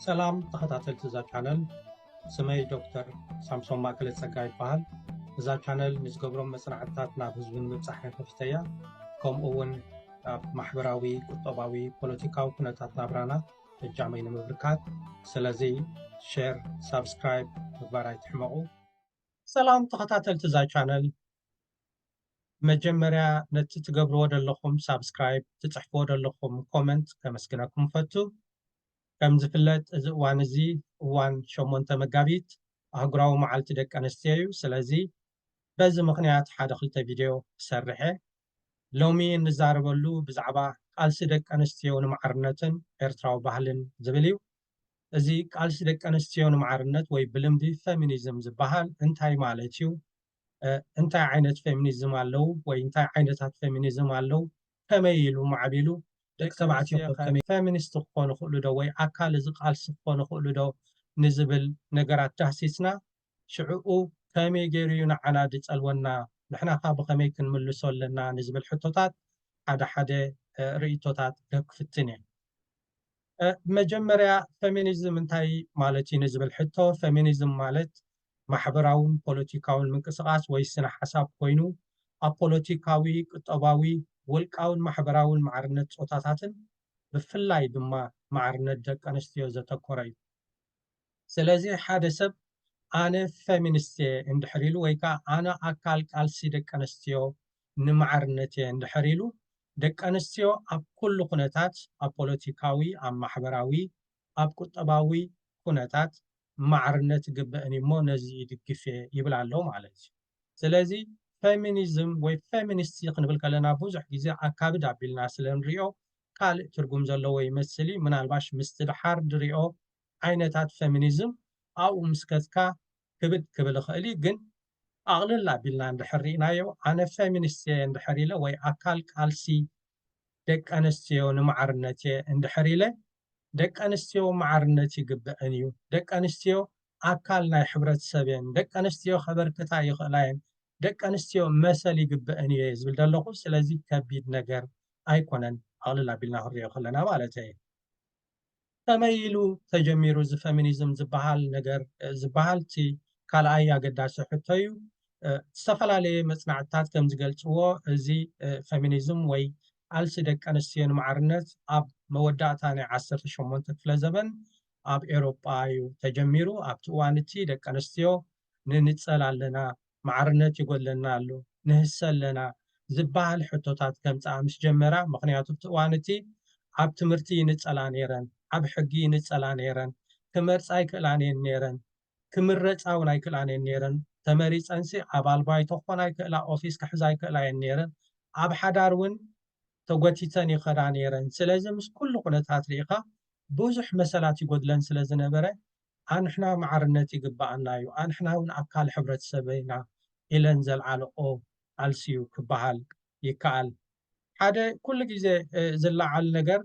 ሰላም ተኸታተልቲ እዛ ቻነል ስመይ ዶክተር ሳምሶም ማእከለ ጸጋ ይበሃል እዛ ቻነል ንዝገብሮም መፅናዕትታት ናብ ህዝቢ ንምብፃሕ ንከፊተ እያ ከምኡ እውን ኣብ ማሕበራዊ ቁጠባዊ ፖለቲካዊ ኩነታት ናብራና እጃመይ ንምብርካት ስለዚ ሸር ሳብስክራይብ ምግባር ኣይትሕመቑ ሰላም ተኸታተልቲ እዛ ቻነል መጀመርያ ነቲ ትገብርዎ ደለኹም ሳብስክራይብ ትጽሕፍዎ ደለኹም ኮመንት ከመስግነኩም እፈቱ። ከም ዝፍለጥ እዚ እዋን እዚ እዋን ሸሞንተ መጋቢት ኣህጉራዊ መዓልቲ ደቂ ኣንስትዮ እዩ። ስለዚ በዚ ምኽንያት ሓደ ክልተ ቪድዮ ክሰርሕ እየ። ሎሚ እንዛረበሉ ብዛዕባ ቃልሲ ደቂ ኣንስትዮ ንማዕርነትን ኤርትራዊ ባህልን ዝብል እዩ። እዚ ቃልሲ ደቂ ኣንስትዮ ንማዕርነት ወይ ብልምዲ ፈሚኒዝም ዝበሃል እንታይ ማለት እዩ? እንታይ ዓይነት ፌሚኒዝም ኣለው ወይ እንታይ ዓይነታት ፌሚኒዝም ኣለው ከመይ ኢሉ ማዕቢሉ ደቂ ተባዕትዮ ፌሚኒስት ክኾኑ ይኽእሉ ዶ ወይ ኣካል እዚ ቃልሲ ክኾኑ ይኽእሉ ዶ ንዝብል ነገራት ዳህሲስና ሽዕኡ ከመይ ገይሩ እዩ ንዓና ዝፀልወና ንሕና ኸ ብኸመይ ክንምልሶ ኣለና ንዝብል ሕቶታት ሓደ ሓደ ርእይቶታት ክህብ ክፍትን እየ። መጀመርያ ፈሚኒዝም እንታይ ማለት እዩ ንዝብል ሕቶ ፈሚኒዝም ማለት ማሕበራውን ፖለቲካውን ምንቅስቓስ ወይ ስነ ሓሳብ ኮይኑ ኣብ ፖለቲካዊ፣ ቁጠባዊ፣ ውልቃውን ማሕበራውን ማዕርነት ፆታታትን ብፍላይ ድማ ማዕርነት ደቂ ኣንስትዮ ዘተኮረ እዩ። ስለዚ ሓደ ሰብ ኣነ ፈሚንስት እየ እንድሕር ኢሉ ወይ ከኣ ኣነ ኣካል ቃልሲ ደቂ ኣንስትዮ ንማዕርነት እየ እንድሕር ኢሉ ደቂ ኣንስትዮ ኣብ ኩሉ ኩነታት ኣብ ፖለቲካዊ ኣብ ማሕበራዊ ኣብ ቁጠባዊ ኩነታት ማዕርነት ይግበእን እዩ እሞ ነዚ ይድግፍ እየ ይብል ኣሎ ማለት እዩ ስለዚ ፈሚኒዝም ወይ ፈሚንስት ክንብል ከለና ብዙሕ ግዜ ኣካብድ ኣቢልና ስለ ንሪኦ ካልእ ትርጉም ዘለዎ ይመስል እዩ ምናልባሽ ምስቲ ድሓር ድሪኦ ዓይነታት ፈሚኒዝም ኣብኡ ምስ ከትካ ክብድ ክብል ይኽእል እዩ ግን ኣቕልል ኣቢልና እንድሕር ሪኢናዮ ኣነ ፈሚኒስት እየ እንድሕር ኢለ ወይ ኣካል ቃልሲ ደቂ ኣነስትዮ ንማዕርነት እየ እንድሕር ኢለ ደቂ ኣነስትዮ ማዕርነት ይግበእን እዩ ደቂ ኣነስትዮ ኣካል ናይ ሕብረተሰብ እየን ደቂ ኣነስትዮ ከበርክታ ይኽእላ እየን ደቂ ኣንስትዮ መሰል ይግበእን እየ ዝብል ዘለኹ ስለዚ ከቢድ ነገር ኣይኮነን ኣቕልል ኣቢልና ክንሪኦ ከለና ማለተይ ከመይ ኢሉ ተጀሚሩ እዚ ፈሚኒዝም ዝበሃል ነገር ዝበሃል እቲ ካልኣይ ኣገዳሲ ሕቶ እዩ ዝተፈላለየ መፅናዕትታት ከም ዝገልፅዎ እዚ ፈሚኒዝም ወይ ቃልሲ ደቂ ኣንስትዮ ንማዕርነት ኣብ መወዳእታ ናይ ዓሰርተ ሸሞንተ ክፍለ ዘበን ኣብ ኤውሮጳ እዩ ተጀሚሩ ኣብቲ እዋን እቲ ደቂ ኣንስትዮ ንንጸል ኣለና፣ ማዕርነት ይጎድለና ኣሎ፣ ንህሰ ኣለና ዝበሃል ሕቶታት ከምጽኣ ምስ ጀመራ፣ ምኽንያቱ ኣብቲ እዋን እቲ ኣብ ትምህርቲ ይንጸላ ነይረን፣ ኣብ ሕጊ ይንጸላ ነይረን፣ ክመርጻ ኣይክእላን እየን ነይረን፣ ክምረጻ እውን ኣይክእላን እየን ነይረን፣ ተመሪጸንሲ ኣባል ባይቶ ክኾና ይክእላ፣ ኦፊስ ክሕዛ ይክእላ እየን ነይረን፣ ኣብ ሓዳር እውን ተጎቲተን ይኸዳ ነይረን፣ ስለዚ ምስ ኩሉ ኩነታት ርኢኻ ብዙሕ መሰላት ይጎድለን ስለ ዝነበረ ኣንሕና ማዕርነት ይግበኣና ዩ፣ ኣንሕና ውን ኣካል ሕብረተሰብ ኢና ኢለን ዘልዓለኦ ቃልሲ ዩ ክበሃል ይከኣል። ሓደ ኩሉ ግዜ ዝለዓል ነገር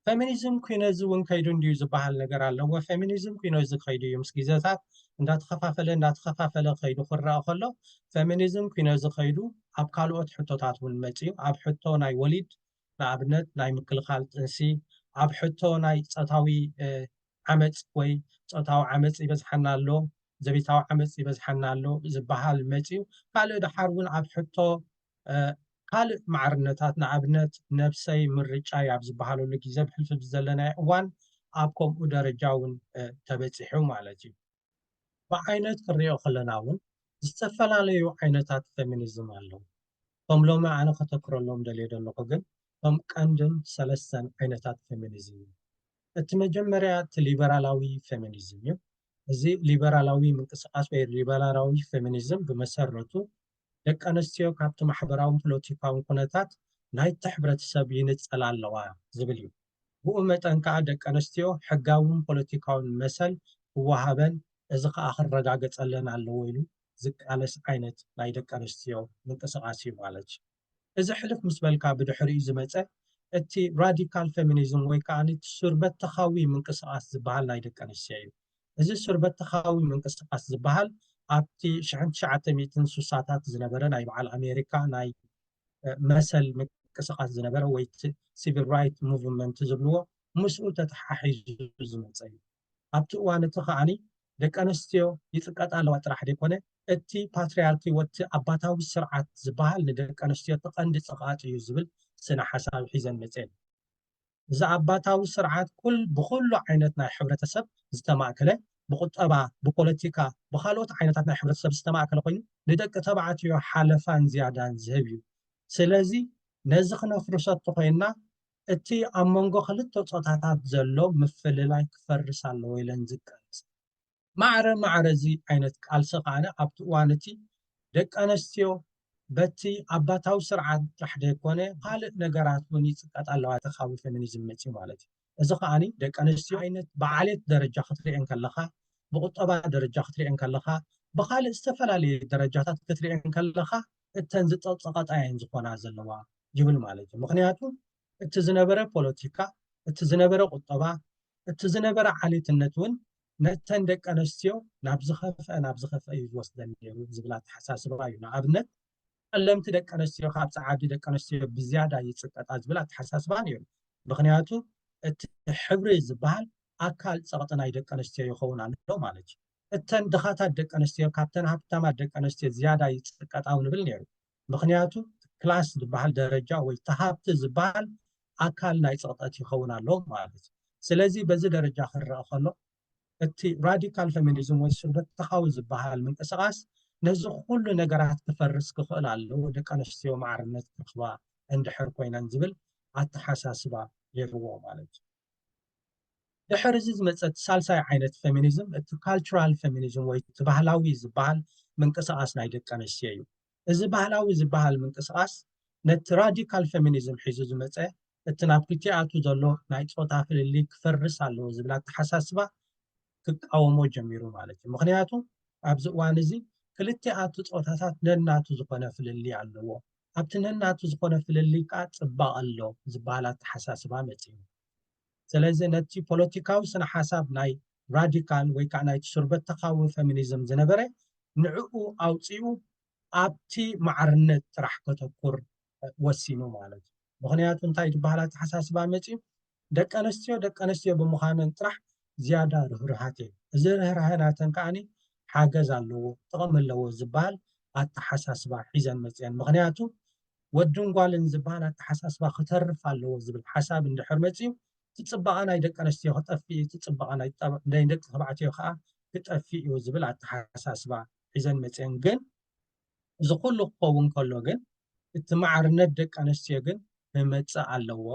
ፈሚኒዝም ኩነዚ ውን ከይዱ እንድዩ ዝበሃል ነገር ኣለዎ። ፈሚኒዝም ኩነዚ ከይዱ ዩ ምስ ግዜታት እንዳተኸፋፈለ እንዳተኸፋፈለ ከይዱ ክረኣ ከሎ ፈሚኒዝም ኩነዚ ከይዱ ኣብ ካልኦት ሕቶታት ውን መጺኡ ኣብ ሕቶ ናይ ወሊድ ንኣብነት ናይ ምክልኻል ጥንሲ፣ ኣብ ሕቶ ናይ ጾታዊ ዓመጽ ወይ ጾታዊ ዓመጽ ይበዝሓና ኣሎ፣ ዘቤታዊ ዓመጽ ይበዝሓና ኣሎ ዝበሃል መጺኡ። ካልእ ደሓር እውን ኣብ ሕቶ ካልእ ማዕርነታት ንኣብነት ነብሰይ ምርጫይ ኣብ ዝበሃለሉ ግዜ ብሕልፊ ዘለናዮ እዋን ኣብ ከምኡ ደረጃ እውን ተበጺሑ ማለት እዩ። ብዓይነት ክንሪኦ ከለና እውን ዝተፈላለዩ ዓይነታት ፌሚኒዝም ኣለው። እቶም ሎሚ ኣነ ከተክረሎም ደልየ ዘለኹ ግን እቶም ቀንድን ሰለስተን ዓይነታት ፌሚኒዝም እዮም። እቲ መጀመርያ እቲ ሊበራላዊ ፌሚኒዝም እዩ። እዚ ሊበራላዊ ምንቅስቃስ ወይ ሊበራላዊ ፌሚኒዝም ብመሰረቱ ደቂ ኣንስትዮ ካብቲ ማሕበራውን ፖለቲካውን ኩነታት ናይቲ ሕብረተሰብ ይንጸላ ኣለዋ ዝብል እዩ። ብኡ መጠን ከኣ ደቂ ኣንስትዮ ሕጋውን ፖለቲካውን መሰል ክወሃበን እዚ ከኣ ክረጋገጸለን ኣለዎ ኢሉ ዝቃለስ ዓይነት ናይ ደቂ ኣንስትዮ ምንቅስቓስ እዩ ማለት እዚ ሕልፍ ምስ በልካ ብድሕሪኡ ዝመጸ እቲ ራዲካል ፌሚኒዝም ወይ ከኣ እቲ ሱርበተኻዊ ምንቅስቓስ ዝበሃል ናይ ደቂ ኣንስትዮ እዩ። እዚ ሱር-በተኻዊ ምንቅስቓስ ዝበሃል ኣብቲ ሽሕን ትሽዓተ ሚእትን ሱሳታት ዝነበረ ናይ በዓል ኣሜሪካ ናይ መሰል ምንቅስቓስ ዝነበረ ወይ እቲ ሲቪል ራይት ሙቭመንት ዝብልዎ ምስኡ ተተሓሒዙ ዝመጸ እዩ። ኣብቲ እዋን እቲ ከኣ ደቂ ኣንስትዮ ይጽቀጣ ኣለዋ ጥራሕ ዘይኮነ እቲ ፓትርያርኪ ወቲ ኣባታዊ ስርዓት ዝበሃል ንደቂ ኣንስትዮ እቲ ቀንዲ ጸቕኣጥ እዩ ዝብል ስነ-ሓሳብ ሒዘን መጺኤን። እዚ ኣባታዊ ስርዓት ኩል ብኹሉ ዓይነት ናይ ሕብረተሰብ ዝተማእከለ ብቁጠባ ብፖለቲካ ብኻልኦት ዓይነታት ናይ ሕብረተሰብ ዝተማእከለ ኮይኑ ንደቂ ተባዕትዮ ሓለፋን ዝያዳን ዝህብ እዩ ስለዚ ነዚ ክነፍርሶ ተኾይንና እቲ ኣብ መንጎ ክልተ ጾታታት ዘሎ ምፍልላይ ክፈርስ ኣለዎ ኢለን ዝቃለሳ ማዕረ ማዕረ እዚ ዓይነት ቃልሲ ከኣ ኣብቲ እዋን እቲ ደቂ ኣነስትዮ በቲ ኣባታዊ ስርዓት ጥራሕ ዘይኮነ ካልእ ነገራት እውን ይጽቀጣ ኣለዋ እቲ ካብ ፌሚኒዝም መጺኡ ማለት እዩ። እዚ ከኣ ደቂ ኣነስትዮ ዓይነት ብዓሌት ደረጃ ክትርእየን ከለኻ ብቁጠባ ደረጃ ክትርእየን ከለኻ ብካልእ ዝተፈላለየ ደረጃታት ክትርእየን ከለኻ እተን ዝጸቅጸቀጣ እየን ዝኾና ዘለዋ ይብል ማለት እዩ። ምኽንያቱ እቲ ዝነበረ ፖለቲካ እቲ ዝነበረ ቁጠባ እቲ ዝነበረ ዓሌትነት እውን ነተን ደቂ ኣነስትዮ ናብ ዝኸፍአ ናብ ዝኸፍአ እዩ ዝወስደን ነይሩ ዝብል ኣተሓሳስባ እዩ። ንኣብነት ጸለምቲ ደቂ ኣነስትዮ ካብ ጸዓዱ ደቂ ኣነስትዮ ብዝያዳ ይጽቀጣ ዝብል ኣተሓሳስባ ነይሩ። ምክንያቱ እቲ ሕብሪ ዝበሃል ኣካል ጸቕጢ ናይ ደቂ ኣነስትዮ ይኸውን ኣሎ ማለት እዩ። እተን ድኻታት ደቂ ኣነስትዮ ካብተን ሃብታማት ደቂ ኣነስትዮ ዝያዳ ይጽቀጣ እውን ይብል ነይሩ። ምክንያቱ ክላስ ዝበሃል ደረጃ ወይ ተሃብቲ ዝበሃል ኣካል ናይ ፅቕጠት ይኸውን ኣሎ ማለት እዩ ስለዚ በዚ ደረጃ ክረአ ከሎ እቲ ራዲካል ፌሚኒዝም ወይ ስርበተኻዊ ዝበሃል ምንቅስቃስ ነዚ ኩሉ ነገራት ክፈርስ ክኽእል ኣለዎ ደቂ ኣንስትዮ ማዕርነት ክረኽባ እንድሕር ኮይነን ዝብል ኣተሓሳስባ ይህልዎ ማለት እዩ ድሕሪ እዚ ዝመፀት ሳልሳይ ዓይነት ፌሚኒዝም እቲ ካልቸራል ፌሚኒዝም ወይ እቲ ባህላዊ ዝበሃል ምንቅስቓስ ናይ ደቂ ኣንስትዮ እዩ። እዚ ባህላዊ ዝበሃል ምንቅስቓስ ነቲ ራዲካል ፌሚኒዝም ሒዙ ዝመፀ እቲ ናብ ክልቲኣቱ ዘሎ ናይ ፆታ ፍልልይ ክፈርስ ኣለዎ ዝብል ኣተሓሳስባ ክቃወሞ ጀሚሩ ማለት እዩ። ምክንያቱ ኣብዚ እዋን እዚ ክልቲኣቱ ፆታታት ነናቱ ዝኾነ ፍልልይ ኣለዎ። ኣብቲ ነናቱ ዝኾነ ፍልልይ ከዓ ፅባቐ ኣሎ ዝበሃል ኣተሓሳስባ መፂኡ። ስለዚ ነቲ ፖለቲካዊ ስነ ሓሳብ ናይ ራዲካል ወይ ከዓ ናይቲ ሱርበተካዊ ፌሚኒዝም ዝነበረ ንዕኡ ኣውፂኡ ኣብቲ ማዕርነት ጥራሕ ከተኩር ወሲኑ ማለት እዩ። ምኽንያቱ እንታይ ዝበሃል ኣተሓሳስባ መፂኡ ደቂ ኣነስትዮ ደቂ ኣነስትዮ ብምዃነን ጥራሕ ዝያዳ ርህሩሃት እየን። እዚ ርህራሀ ናተን ከዓኒ ሓገዝ ኣለዎ ጥቕሚ ኣለዎ ዝበሃል ኣተሓሳስባ ሒዘን መፅአን። ምኽንያቱ ወድን ጓልን ዝበሃል ኣተሓሳስባ ክተርፍ ኣለዎ ዝብል ሓሳብ እንድሕር መፂኡ እቲ ፅባቐ ናይ ደቂ ኣነስትዮ ክጠፍእ እዩ፣ እቲ ፅባቐ ናይ ደቂ ተባዕትዮ ከዓ ክጠፍእ እዩ ዝብል ኣተሓሳስባ ሒዘን መፅአን። ግን እዚ ኩሉ ክኸውን ከሎ ግን እቲ ማዕርነት ደቂ ኣንስትዮ ግን ክመፅእ ኣለዎ፣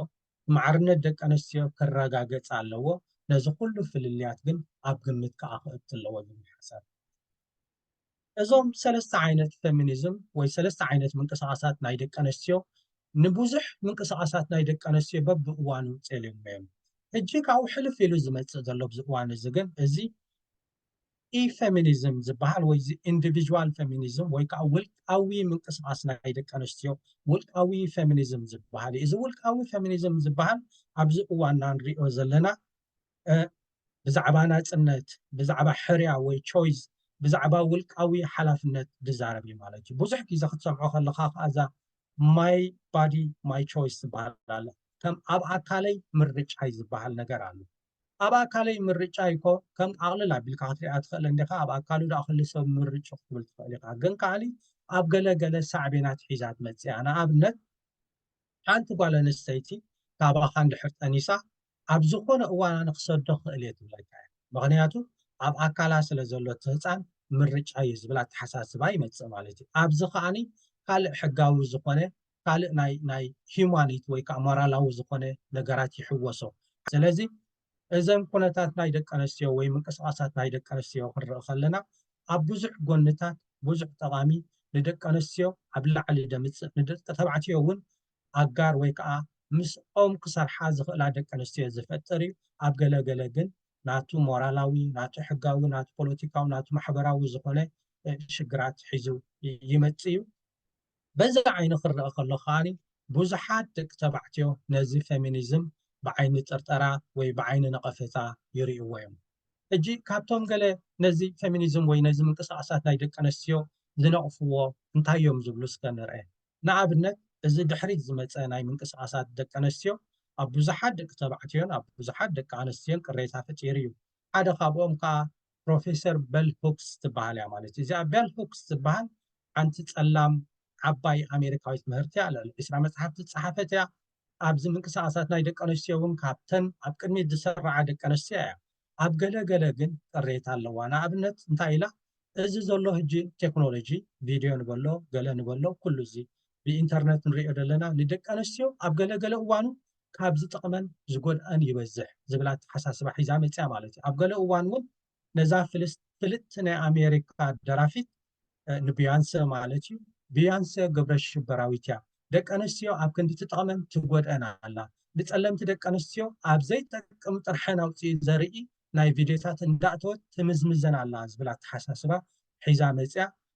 እቲ ማዕርነት ደቂ ኣንስትዮ ክረጋገፅ ኣለዎ፣ ነዚ ኩሉ ፍልልያት ግን ኣብ ግምት ከዓ ክእቱ ኣለዎ ዝብል ሓሳብ እዩ። እዞም ሰለስተ ዓይነት ፌሚኒዝም ወይ ሰለስተ ዓይነት ምንቅስቓሳት ናይ ደቂ ኣንስትዮ ንብዙሕ ምንቅስቓሳት ናይ ደቂ ኣንስትዮ በብእዋኑ ፀሊዮሞ እዮም። ሕጂ ካብኡ ሕልፍ ኢሉ ዝመፅእ ዘሎ ኣብዚ እዋን እዚ ግን እዚ ኢ-ፌሚኒዝም ዝበሃል ወይ ኢንዲቪዥዋል ፌሚኒዝም ወይ ከዓ ውልቃዊ ምንቅስቓስ ናይ ደቂ ኣንስትዮ ውልቃዊ ፌሚኒዝም ዝበሃል እዩ። እዚ ውልቃዊ ፌሚኒዝም ዝበሃል ኣብዚ እዋንና ንሪኦ ዘለና ብዛዕባ ናፅነት፣ ብዛዕባ ሕርያ ወይ ቾይዝ፣ ብዛዕባ ውልቃዊ ሓላፍነት ዝዛረብ እዩ ማለት እዩ። ብዙሕ ግዜ ክትሰምዖ ከለኻ ከዓ እዛ ማይ ባዲ ማይ ቾይስ ዝበሃል ኣሎ። ከም ኣብ ኣካለይ ምርጫይ ዝበሃል ነገር ኣሎ። ኣብ ኣካለይ ምርጫ ኢኮ ከም ኣቕልል ኣቢልካ ክትሪኣ ትኽእል እንዲኻ ኣብ ኣካሉ ድኣ ኩሉ ሰብ ምርጭኡ ክትብል ትኽእል ኢኻ ግን ከዓኒ ኣብ ገለ ገለ ሳዕቤናት ሒዛ ትመጽእ እያ ንኣብነት ሓንቲ ጓል ኣንስተይቲ ካባኻ እንድሕር ጠኒሳ ኣብ ዝኾነ እዋን ኣነ ክሰዶ ክኽእል እየ ትብለካ እያ ምኽንያቱ ኣብ ኣካላ ስለ ዘሎ እቲ ህፃን ምርጫ እዩ ዝብል ኣተሓሳስባ ይመፅእ ማለት እዩ ኣብዚ ከዓኒ ካልእ ሕጋዊ ዝኾነ ካልእ ናይ ናይ ሂማኒት ወይ ከዓ ሞራላዊ ዝኾነ ነገራት ይሕወሶ። ስለዚ እዘን ኩነታት ናይ ደቂ ኣንስትዮ ወይ ምንቅስቓሳት ናይ ደቂ ኣንስትዮ ክንርኢ ከለና ኣብ ብዙሕ ጎንታት ብዙሕ ጠቓሚ ንደቂ ኣንስትዮ ኣብ ላዕሊ ደምፅእ ንደቂ ተባዕትዮ እውን ኣጋር ወይ ከዓ ምስኦም ክሰርሓ ዝኽእላ ደቂ ኣንስትዮ ዝፈጥር እዩ። ኣብ ገለ ገለ ግን ናቱ ሞራላዊ ናቱ ሕጋዊ ናቱ ፖለቲካዊ ናቱ ማሕበራዊ ዝኾነ ሽግራት ሒዙ ይመፅእ እዩ። በዚ ዓይኒ ክረኣ ከሎ ከኣ ብዙሓት ደቂ ተባዕትዮ ነዚ ፌሚኒዝም ብዓይኒ ጥርጠራ ወይ ብዓይኒ ነቐፌታ ይርእይዎ እዮም። ሕጂ ካብቶም ገለ ነዚ ፌሚኒዝም ወይ ነዚ ምንቅስቓሳት ናይ ደቂ ኣንስትዮ ዝነቕፍዎ እንታይ እዮም ዝብሉ እስከ ንርኣ። ንኣብነት እዚ ድሕሪት ዝመጸ ናይ ምንቅስቓሳት ደቂ ኣንስትዮ ኣብ ብዙሓት ደቂ ተባዕትዮን ኣብ ብዙሓት ደቂ ኣንስትዮን ቅሬታ ፈጢሩ እዩ። ሓደ ካብኦም ከኣ ፕሮፌሰር በል ሁክስ ትበሃል እያ ማለት እዩ። እዚኣ በል ሁክስ ትበሃል ሓንቲ ጸላም ዓባይ ኣሜሪካዊት ምህርቲ እያ። ልዕሊ ዕስራ መጽሓፍቲ ዝጸሓፈት እያ። ኣብዚ ምንቅስቓሳት ናይ ደቂ ኣንስትዮ እውን ካብተን ኣብ ቅድሚት ዝስርዓ ደቂ ኣንስትዮ እያ። ኣብ ገለ ገለ ግን ቅሬታ ኣለዋ። ንኣብነት እንታይ ኢላ እዚ ዘሎ ሕጂ ቴክኖሎጂ ቪድዮ ንበሎ ገለ ንበሎ ኩሉ እዚ ብኢንተርነት ንሪኦ ዘለና ንደቂ ኣንስትዮ ኣብ ገለ ገለ እዋኑ ካብ ዝጠቕመን ዝጎድኣን ይበዝሕ ዝብል ኣተሓሳስባ ሒዛ መፂኣ ማለት እዩ። ኣብ ገለ እዋን እውን ነዛ ፍልጥቲ ናይ ኣሜሪካ ደራፊት ንብያንሰ ማለት እዩ ብያንሰ ግብረሽበራዊት እያ፣ ደቂ ኣነስትዮ ኣብ ክንዲ ትጠቕመን ትጎድኣን ኣላ፣ ንፀለምቲ ደቂ ኣነስትዮ ኣብ ዘይጠቅም ጥርሐን ኣውፅኢ ዘርኢ ናይ ቪድዮታት እንዳእተወት ትምዝምዘን ኣላ ዝብል ኣተሓሳስባ ሒዛ መፂኣ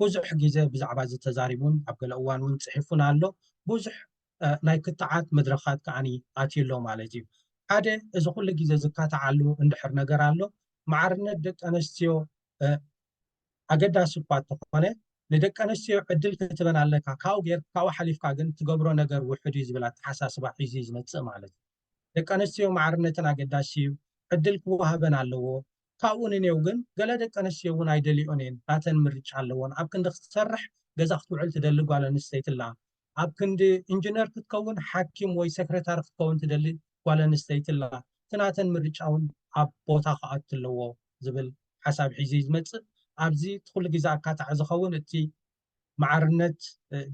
ብዙሕ ግዜ ብዛዕባ እዚ ተዛሪቡን ኣብ ገለ እዋን እውን ፅሒፉን ኣሎ። ብዙሕ ናይ ክትዓት መድረኻት ከኣ ኣትዩ ኣሎ ማለት እዩ። ሓደ እዚ ኩሉ ግዜ ዝካታዓሉ እንድሕር ነገር ኣሎ ማዕርነት ደቂ ኣነስትዮ ኣገዳሲ እኳ እንተኾነ ንደቂ ኣነስትዮ ዕድል ክትበን ኣለካ ካብኡ ጌር ካብኡ ሓሊፍካ ግን ትገብሮ ነገር ውሕድ እዩ ዝብል ኣተሓሳስባ ሒዙ እዩ ዝመፅእ ማለት እዩ ደቂ ኣነስትዮ ማዕርነትን ኣገዳሲ እዩ ዕድል ክወሃበን ኣለዎ ካብኡ ንኔው ግን ገለ ደቂ ኣንስትዮ እውን ኣይደልይኦን እየን ናተን ምርጫ ኣለወን ኣብ ክንዲ ክትሰርሕ ገዛ ክትውዕል ትደሊ ጓል ኣንስተይቲ ኣላ ኣብ ክንዲ እንጅነር ክትከውን ሓኪም ወይ ሰክረታሪ ክትከውን ትደሊ ጓል ኣንስተይቲ ኣላ እቲ ናተን ምርጫ እውን ኣብ ቦታ ክኣቱ ኣለዎ ዝብል ሓሳብ ሒዙ እዩ ዝመፅእ ኣብዚ እቲ ኩሉ ግዜ ኣካታዒ ዝኸውን እቲ ማዕርነት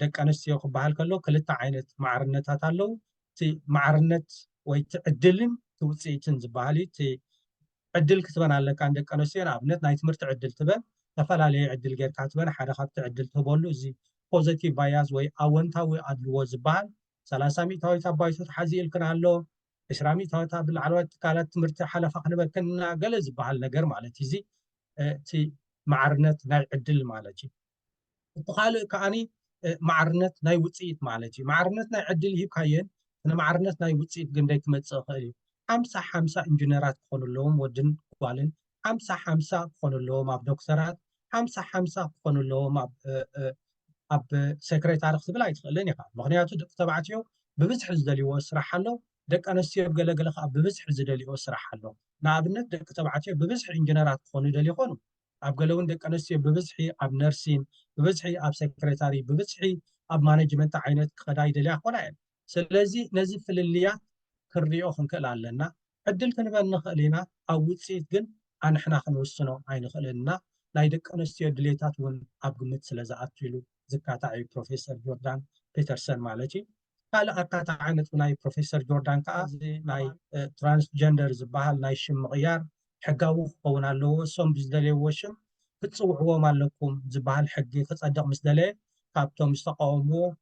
ደቂ ኣንስትዮ ክበሃል ከሎ ክልተ ዓይነት ማዕርነታት ኣለው። እቲ ማዕርነት ወይ እቲ ዕድልን እቲ ውፅኢትን ዝበሃል እዩ። እቲ ዕድል ክትበን ኣለካ ንደቂ ኣንስትዮ ንኣብነት ናይ ትምህርቲ ዕድል ትበን ዝተፈላለየ ዕድል ጌርካ ትበን ሓደ ካብቲ ዕድል ትህበሉ እዚ ፖዘቲቭ ባያዝ ወይ ኣወንታዊ ኣድልዎ ዝበሃል ሰላሳ ሚእታዊት ኣብ ባይቶ ተሓዚኡልክን ኣሎ ዕስራ ሚእታዊት ኣብ ላዕለዋይ ትካላት ትምህርቲ ሓለፋ ክንበክን ኢና ገለ ዝበሃል ነገር ማለት እዩ። እዚ እቲ ማዕርነት ናይ ዕድል ማለት እዩ። እቲ ካልእ ከዓኒ ማዕርነት ናይ ውፅኢት ማለት እዩ። ማዕርነት ናይ ዕድል ሂብካየን ንማዕርነት ናይ ውፅኢት ግንደይ ክመፅእ ይኽእል እዩ። ሓምሳ ሓምሳ ኢንጂነራት ክኾኑ ኣለዎም ወድን ጓልን ሓምሳ ሓምሳ ክኾኑ ኣለዎም ኣብ ዶክተራት ሓምሳ ሓምሳ ክኾኑ ኣለዎም ኣብ ሴክሬታሪ ክትብል ኣይትኽእልን ኢኻ ምክንያቱ ደቂ ተባዕትዮ ብብዝሒ ዝደልይዎ ስራሕ ኣሎ ደቂ ኣነስትዮ ገለገለ ከዓ ብብዝሒ ዝደልይዎ ስራሕ ኣሎ ንኣብነት ደቂ ተባዕትዮ ብብዝሒ ኢንጂነራት ክኾኑ ይደልዩ ይኾኑ ኣብ ገለ እውን ደቂ ኣነስትዮ ብብዝሒ ኣብ ነርሲን ብብዝሒ ኣብ ሴክሬታሪ ብብዝሒ ኣብ ማነጅመንት ዓይነት ክኸዳ ይደልያ ክኾና እየን ስለዚ ነዚ ፍልልያት ክንሪኦ ክንክእል ኣለና። ዕድል ክንበ ንኽእል ኢና፣ ኣብ ውጽኢት ግን ኣንሕና ክንውስኖ ኣይንኽእልን እና፣ ናይ ደቂ ኣንስትዮ ድሌታት እውን ኣብ ግምት ስለዝኣቱ ኢሉ ዝካታዕ እዩ ፕሮፌሰር ጆርዳን ፔተርሰን ማለት እዩ። ካልእ ኣካታዒ ነጥቢ ናይ ፕሮፌሰር ጆርዳን ከኣ እዚ ናይ ትራንስጀንደር ዝበሃል ናይ ሽም ምቕያር ሕጋዊ ክኸውን ኣለዎ፣ እሶም ብዝደለይዎ ሽም ክትጽውዕዎም ኣለኩም ዝበሃል ሕጊ ክጸድቕ ምስ ደለየ ካብቶም ዝተቓወምዎ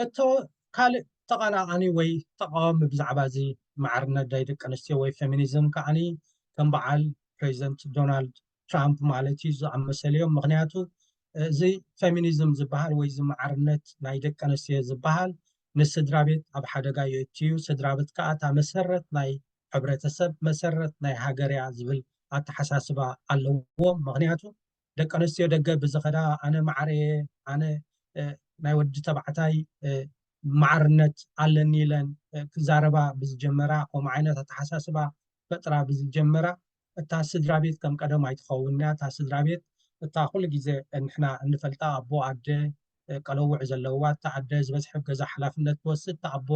ሕቶ፣ ካልእ ተቓላቓኒ ወይ ተቓዋሚ ብዛዕባ እዚ ማዕርነት ናይ ደቂ ኣንስትዮ ወይ ፈሚኒዝም ከኣ ከም በዓል ፕረዚደንት ዶናልድ ትራምፕ ማለት እዩ ዝኣመሰሉ እዮም። ምኽንያቱ እዚ ፈሚኒዝም ዝበሃል ወይ እዚ ማዕርነት ናይ ደቂ ኣንስትዮ ዝበሃል ንስድራ ቤት ኣብ ሓደጋ የእቱ እዩ፣ ስድራ ቤት ከኣ እታ መሰረት ናይ ሕብረተሰብ፣ መሰረት ናይ ሃገር እያ ዝብል ኣተሓሳስባ ኣለዎም። ምኽንያቱ ደቂ ኣነስትዮ ደገ ብዝኸዳ ኣነ ማዕረ እየ ኣነ ናይ ወዲ ተባዕታይ ማዕርነት ኣለኒ ኢለን ክዛረባ ብዝጀመራ ከምኡ ዓይነት ኣተሓሳስባ ፈጥራ ብዝጀመራ እታ ስድራ ቤት ከም ቀደም ኣይትኸውን እያ እታ ስድራ ቤት እታ ኩሉ ግዜ ንሕና እንፈልጣ ኣቦ ኣደ ቀለውዕ ዘለዋ እታ ኣደ ዝበዝሐ ገዛ ሓላፍነት ትወስድ እታ ኣቦ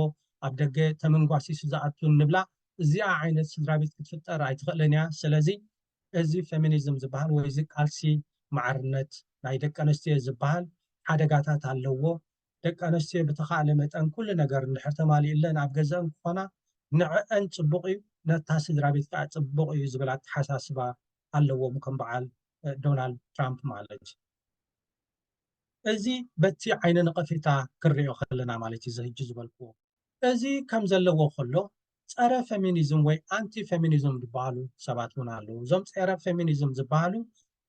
ኣብ ደገ ተመንጓሲሱ ዝኣቱ ንብላ እዚኣ ዓይነት ስድራ ቤት ክትፍጠር ኣይትኽእልን እያ ስለዚ እዚ ፌሚኒዝም ዝበሃል ወይ እዚ ቃልሲ ማዕርነት ናይ ደቂ ኣንስትዮ ዝበሃል ሓደጋታት ኣለዎ። ደቂ ኣንስትዮ ብተኻእለ መጠን ኩሉ ነገር እንድሕር ተማሊኡለን ኣብ ገዘኣን ክኾና ንዐኣን ፅቡቕ እዩ፣ ነታ ስድራቤት ከዓ ፅቡቕ እዩ ዝብል ኣተሓሳስባ ኣለዎም ከም በዓል ዶናልድ ትራምፕ ማለት እዩ። እዚ በቲ ዓይነ ነቐፌታ ክንሪኦ ከለና ማለት እዩ እዚ ህጂ ዝበልክዎ። እዚ ከም ዘለዎ ከሎ ጸረ ፌሚኒዝም ወይ ኣንቲ ፌሚኒዝም ዝበሃሉ ሰባት እውን ኣለዉ። እዞም ጸረ ፌሚኒዝም ዝበሃሉ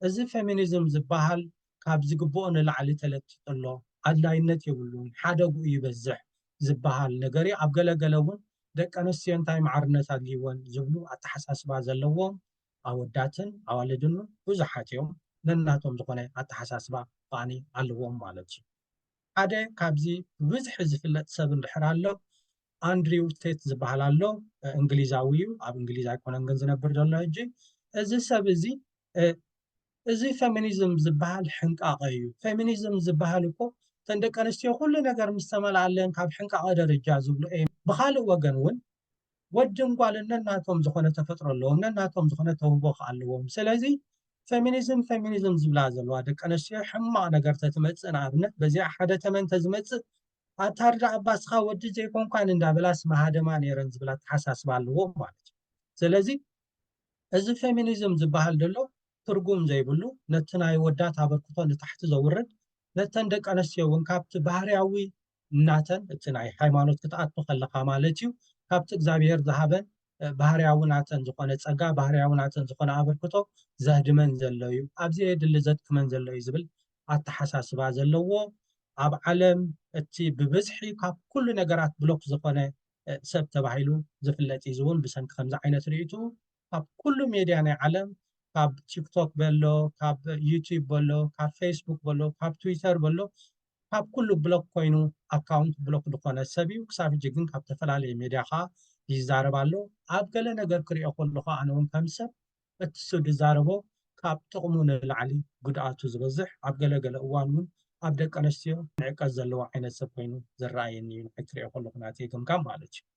እዚ ፌሚኒዝም ዝበሃል ካብ ዝግብኦ ንላዕሊ ተለጢጡ ኣሎ፣ ኣድላይነት የብሉን፣ ሓደግኡ ይበዝሕ ዝበሃል ነገር እዩ። ኣብ ገለ ገለ እውን ደቂ ኣንስትዮ እንታይ ማዕርነት ኣድልይወን ዝብሉ ኣተሓሳስባ ዘለዎም ኣወዳትን ኣዋልድን እውን ብዙሓት እዮም። ነናቶም ዝኾነ ኣተሓሳስባ ከኣ ኣለዎም ማለት እዩ። ሓደ ካብዚ ብብዝሒ ዝፍለጥ ሰብ እንድሕር ኣሎ ኣንድሪው ቴት ዝበሃል ኣሎ እንግሊዛዊ እዩ ኣብ እንግሊዝ ኣይኮነን ግን ዝነብር ዘሎ ሕጂ እዚ ሰብ እዚ እዚ ፌሚኒዝም ዝበሃል ሕንቃቐ እዩ ፌሚኒዝም ዝበሃል እኮ እተን ደቂ ኣንስትዮ ኩሉ ነገር ምስ ተመልኣለን ካብ ሕንቃቐ ደረጃ ዝብሉ እየ ብካልእ ወገን እውን ወድን ጓልን ነናቶም ዝኾነ ተፈጥሮ ኣለዎም፣ ነናቶም ዝኾነ ተውህቦ ከኣ ኣለዎም። ስለዚ ፈሚኒዝም ፈሚኒዝም ዝብላ ዘለዋ ደቂ ኣንስትዮ ሕማቕ ነገር ተትመጽእ ንኣብነት በዚኣ ሓደ ተመን ተዝመጽእ ኣታርዳ ኣባስኻ ወዲ ዘይኮንኳን እንዳበላስ መሃደማ ነይረን ዝብል ኣተሓሳስባ ኣለዎም ማለት እዩ። ስለዚ እዚ ፌሚኒዝም ዝበሃል ደሎ ትርጉም ዘይብሉ ነቲ ናይ ወዳት ኣበርክቶ ንታሕቲ ዘውርድ ነተን ደቂ ኣንስትዮ እውን ካብቲ ባህርያዊ ናተን እቲ ናይ ሃይማኖት ክትኣቱ ከለኻ ማለት እዩ ካብቲ እግዚኣብሔር ዝሃበን ባህርያዊ ናተን ዝኾነ ጸጋ ባህርያዊ ናተን ዝኾነ ኣበርክቶ ዘህድመን ዘሎ እዩ ኣብ ዘየድሊ ዘድክመን ዘሎ እዩ ዝብል ኣተሓሳስባ ዘለዎ ኣብ ዓለም እቲ ብብዝሒ ካብ ኩሉ ነገራት ብሎክ ዝኾነ ሰብ ተባሂሉ ዝፍለጥ እዩ ዝውን ብሰንኪ ከምዚ ዓይነት ርእይቱ ካብ ኩሉ ሜድያ ናይ ዓለም ካብ ቲክቶክ በሎ ካብ ዩቲዩብ በሎ ካብ ፌስቡክ በሎ ካብ ትዊተር በሎ ካብ ኩሉ ብሎክ ኮይኑ ኣካውንት ብሎክ ዝኾነ ሰብ እዩ ክሳብ ሕጂ ግን ካብ ተፈላለየ ሜድያ ከዓ ይዛረብ ኣሎ ኣብ ገለ ነገር ክሪኦ ከለኹ ኣነ እውን ከም ሰብ እቲ እሱ ዝዛረቦ ካብ ጥቕሙ ንላዕሊ ጉድኣቱ ዝበዝሕ ኣብ ገለገለ እዋን እውን ኣብ ደቂ ኣንስትዮ ንዕቀት ዘለዎ ዓይነት ሰብ ኮይኑ ዝረኣየኒ እዩ ንዓይ ክሪኦ ከለኹ ናተይ ገምጋም ማለት እዩ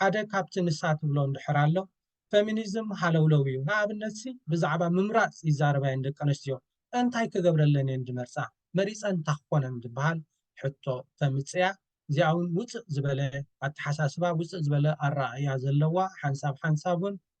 ሓደ ካብቲ ንሳ ትብሎ እንድሕር ኣሎ ፈሚኒዝም ሃለውለው እዩ ንኣብነትሲ ብዛዕባ ምምራጽ ይዛረባ እየን ደቀንስትዮ እንታይ ክገብረለን እየን ዝመርጻ መሪጸን እንታ ክኾነን ዝብሃል ሕቶ ተምጽእያ እዚኣ ውን ውጽእ ዝበለ ኣተሓሳስባ ውጽእ ዝበለ ኣረኣእያ ዘለዋ ሓንሳብ ሓንሳብ ውን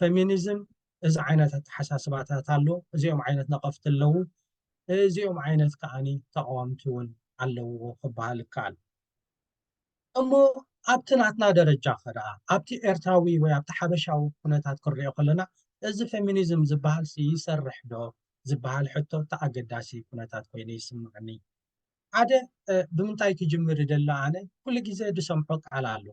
ፈሚኒዝም እዚ ዓይነት ኣተሓሳስባታት ኣሎ፣ እዚኦም ዓይነት ነቐፍቲ ኣለዉ፣ እዚኦም ዓይነት ከዓኒ ተቓወምቲ እውን ኣለዉዎ ክበሃል ይከኣል። እሞ ኣብቲ ናትና ደረጃ ከ ደኣ ኣብቲ ኤርትራዊ ወይ ኣብቲ ሓበሻዊ ኩነታት ክንሪኦ ከለና እዚ ፈሚኒዝም ዝበሃልሲ ይሰርሕ ዶ ዝበሃል ሕቶ እቲ ኣገዳሲ ኩነታት ኮይኑ ይስመዓኒ። ሓደ ብምንታይ ክጅምር ይደሊ ኣነ ኩሉ ግዜ ዝሰምዖ ቃል ኣሎ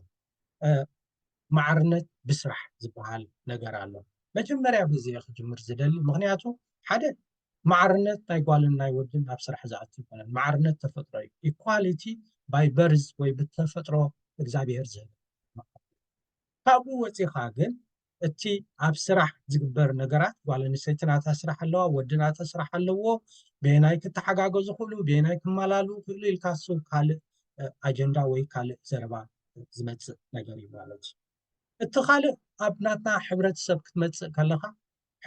ማዕርነት ብስራሕ ዝበሃል ነገር ኣሎ መጀመርያ በዚ እየ ክጅምር ዝደሊ ምክንያቱ ሓደ ማዕርነት ናይ ጓልን ናይ ወድን ናብ ስራሕ ዝኣቱ ይኮነን ማዕርነት ተፈጥሮ እዩ ኢኳሊቲ ባይ በርዝ ወይ ብተፈጥሮ እግዚኣብሄር ዝህብ ካብኡ ወፂኻ ግን እቲ ኣብ ስራሕ ዝግበር ነገራት ጓል ኣንስተይቲ ናታ ስራሕ ኣለዋ ወዲ ናተ ስራሕ ኣለዎ በየናይ ክተሓጋገዙ ክእሉ በየናይ ክመላሉ ክእሉ ኢልካ ዝስብ ካልእ ኣጀንዳ ወይ ካልእ ዘረባ ዝመፅእ ነገር እዩ ማለት እዩ እቲ ካልእ ኣብ ናትና ሕብረተሰብ ክትመፅእ ከለካ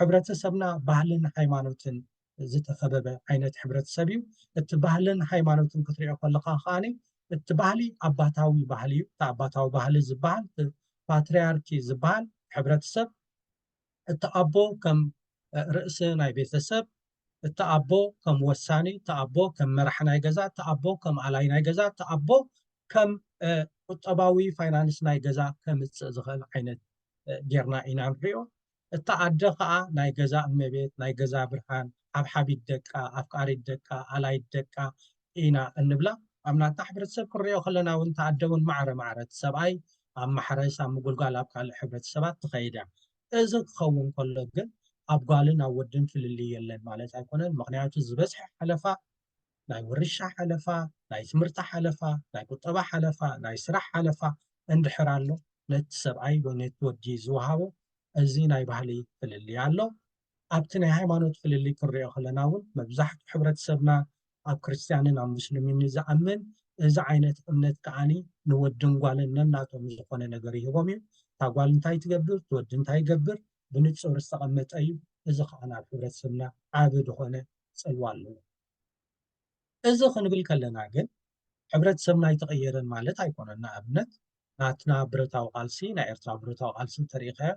ሕብረተሰብና ባህልን ሃይማኖትን ዝተኸበበ ዓይነት ሕብረተሰብ እዩ። እቲ ባህልን ሃይማኖትን ክትሪኦ ከለኻ ከኣ እቲ ባህሊ ኣባታዊ ባህሊ እዩ። እቲ ኣባታዊ ባህሊ ዝበሃል እቲ ፓትርያርኪ ዝበሃል ሕብረተሰብ እቲ ኣቦ ከም ርእሲ ናይ ቤተሰብ እቲ ኣቦ ከም ወሳኒ እቲ ኣቦ ከም መራሕ ናይ ገዛ እቲ ኣቦ ከም ኣላይ ናይ ገዛ እቲ ኣቦ ከም ቁጠባዊ ፋይናንስ ናይ ገዛ ከምፅእ ዝኽእል ዓይነት ጌርና ኢና ንሪኦ። እታ ኣደ ከኣ ናይ ገዛ እመቤት፣ ናይ ገዛ ብርሃን፣ ሓብሓቢት ደቃ፣ ኣፍቃሪት ደቃ፣ ኣላዪት ደቃ ኢና እንብላ። ኣብ ናትና ሕብረተሰብ ክንርእዮ ከለና እውን እታ ኣደ እውን ማዕረ ማዕረ እቲ ሰብኣይ ኣብ ማሕረስ፣ ኣብ ምጉልጓል ኣብ ካልእ ሕብረተሰባት ትኸይድ እያ። እዚ ክኸውን ከሎ ግን ኣብ ጓልን ኣብ ወድን ፍልልይ የለን ማለት ኣይኮነን። ምኽንያቱ ዝበዝሐ ሓለፋ ናይ ውርሻ ሓለፋ፣ ናይ ትምህርቲ ሓለፋ፣ ናይ ቁጠባ ሓለፋ፣ ናይ ስራሕ ሓለፋ እንድሕር ኣሎ ነቲ ሰብኣይ ወይ ነቲ ወዲ ዝወሃቦ እዚ ናይ ባህሊ ፍልልይ ኣሎ። ኣብቲ ናይ ሃይማኖት ፍልልይ ክንሪኦ ከለና እውን መብዛሕትኡ ሕብረተሰብና ኣብ ክርስትያንን ኣብ ሙስሊምን እዩ ዝኣምን። እዚ ዓይነት እምነት ከኣ ንወድን ጓልን ነናቶም ዝኾነ ነገር ይህቦም እዩ። እታ ጓል እንታይ ትገብር እቲ ወዲ እንታይ ይገብር ብንፁር ዝተቐመጠ እዩ። እዚ ከኣ ኣብ ሕብረተሰብና ዓቢ ዝኾነ ፅልዋ ኣለዎ። እዚ ክንብል ከለና ግን ሕብረተሰብና ኣይተቐየረን ማለት ኣይኮነን። ንኣብነት ናትና ብረታዊ ቃልሲ ናይ ኤርትራ ብረታዊ ቃልሲ እንተሪእኻዮ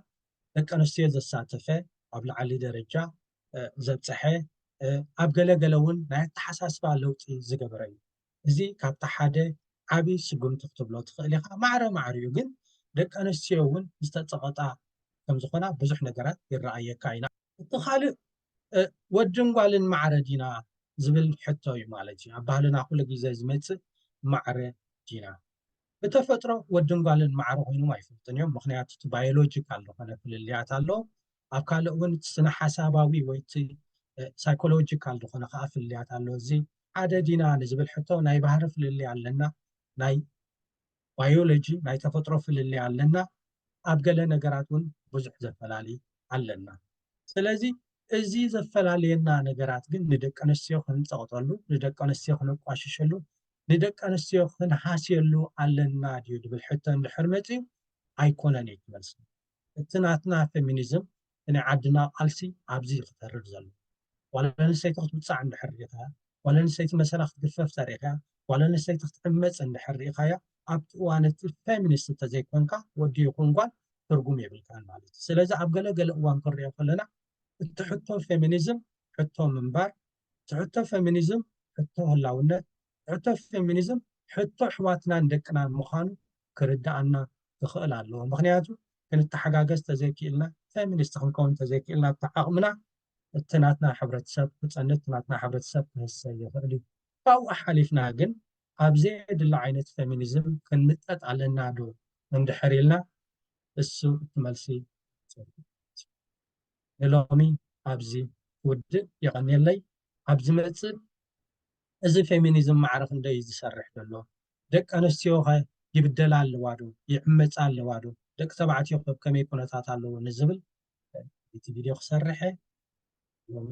ደቂ ኣንስትዮ ዘሳተፈ ኣብ ላዕሊ ደረጃ ዘብፀሐ ኣብ ገለገለ እውን ናይ ኣተሓሳስባ ለውጢ ዝገበረ እዩ እዚ ካብቲ ሓደ ዓብዪ ስጉምቲ ክትብሎ ትኽእል ኢኻ ማዕረ ማዕር እዩ ግን ደቂ ኣንስትዮ እውን ዝተፀቐጣ ከምዝኾና ብዙሕ ነገራት ይረኣየካ ኢና እቲ ካልእ ወድን ጓልን ማዕረ ዲና ዝብል ሕቶ እዩ ማለት እዩ። ኣብ ባህልና ኩሉ ግዜ ዝመጽእ ማዕረ ዲና። ብተፈጥሮ ወድን ጓልን ማዕረ ኮይኖም ኣይፈልጡን እዮም። ምክንያቱ እቲ ባዮሎጂካል ዝኾነ ፍልልያት ኣሎ። ኣብ ካልእ እውን ስነ ሓሳባዊ ወይ እቲ ሳይኮሎጂካል ዝኾነ ከዓ ፍልልያት ኣሎ። እዚ ሓደ ዲና ንዝብል ሕቶ ናይ ባህሪ ፍልልይ ኣለና፣ ናይ ባዮሎጂ ናይ ተፈጥሮ ፍልልይ ኣለና ኣብ ገለ ነገራት ውን ብዙሕ ዘፈላሊ ኣለና ስለዚ እዚ ዘፈላልየና ነገራት ግን ንደቀንስትዮ ክንጸቕጠሉ ንደቀንስትዮ ክነቋሽሸሉ ንደቀንስትዮ ክንሃስየሉ ኣለና ድዩ ድብል ሕቶ እንድሕር መጺኡ ኣይኮነን እዩ እቲ መልሲ እቲ ናትና ፌሚኒዝም ብናይ ዓድና ቃልሲ ኣብዚ እዩ ክተርር ዘለዎ ጓል ኣንስተይቲ ክትውጻዕ እንድሕር ሪኢኻያ ጓል ኣንስተይቲ መሰላ ክትግፈፍ ተሪኢኻያ ጓል ኣንስተይቲ ክትዕመጽ እንድሕር ሪኢኻያ ኣብቲ እዋን እቲ ፌሚኒስት እንተዘይኮንካ ወዲ ይኹን ጓል ትርጉም የብልካን ማለት እዩ ስለዚ ኣብ ገለ ገለ እዋን ክንሪኦ ከለና እቲ ሕቶ ፌሚኒዝም ሕቶ ምንባር ትሕቶ ፌሚኒዝም ሕቶ ህላውነት፣ ትሕቶ ፌሚኒዝም ሕቶ ኣሕዋትናን ደቅናን ምዃኑ ክርድኣና ክኽእል ኣለዎ። ምኽንያቱ ክንተሓጋገዝ ተዘይክኢልና፣ ፌሚኒስት ክንከውን ተዘይክኢልና ኣብቲ ዓቕምና እቲ ናትና ሕብረተሰብ ክጸንት፣ እቲ ናትና ሕብረተሰብ ክህሰ ይኽእል እዩ። ካብኡ ሓሊፍና ግን ኣብ ዘየድሊ ዓይነት ፌሚኒዝም ክንምጠጥ ኣለና ዶ እንድሕር ኢልና እሱ እቲ መልሲ። ንሎሚ ኣብዚ ክውድእ የቀንየለይ ኣብ ዝመጽእ እዚ ፌሚኒዝም ማዕረ ክንደይ እዩ ዝሰርሕ ዘሎ ደቂ ኣንስትዮ ከ ይብደላ ኣለዋ ዶ ይዕመጻ ኣለዋ ዶ ደቂ ተባዕትዮ ከ ከመይ ኩነታት ኣለዎ ንዝብል ዩቱብ ቪድዮ ክሰርሕ እየ ሎሚ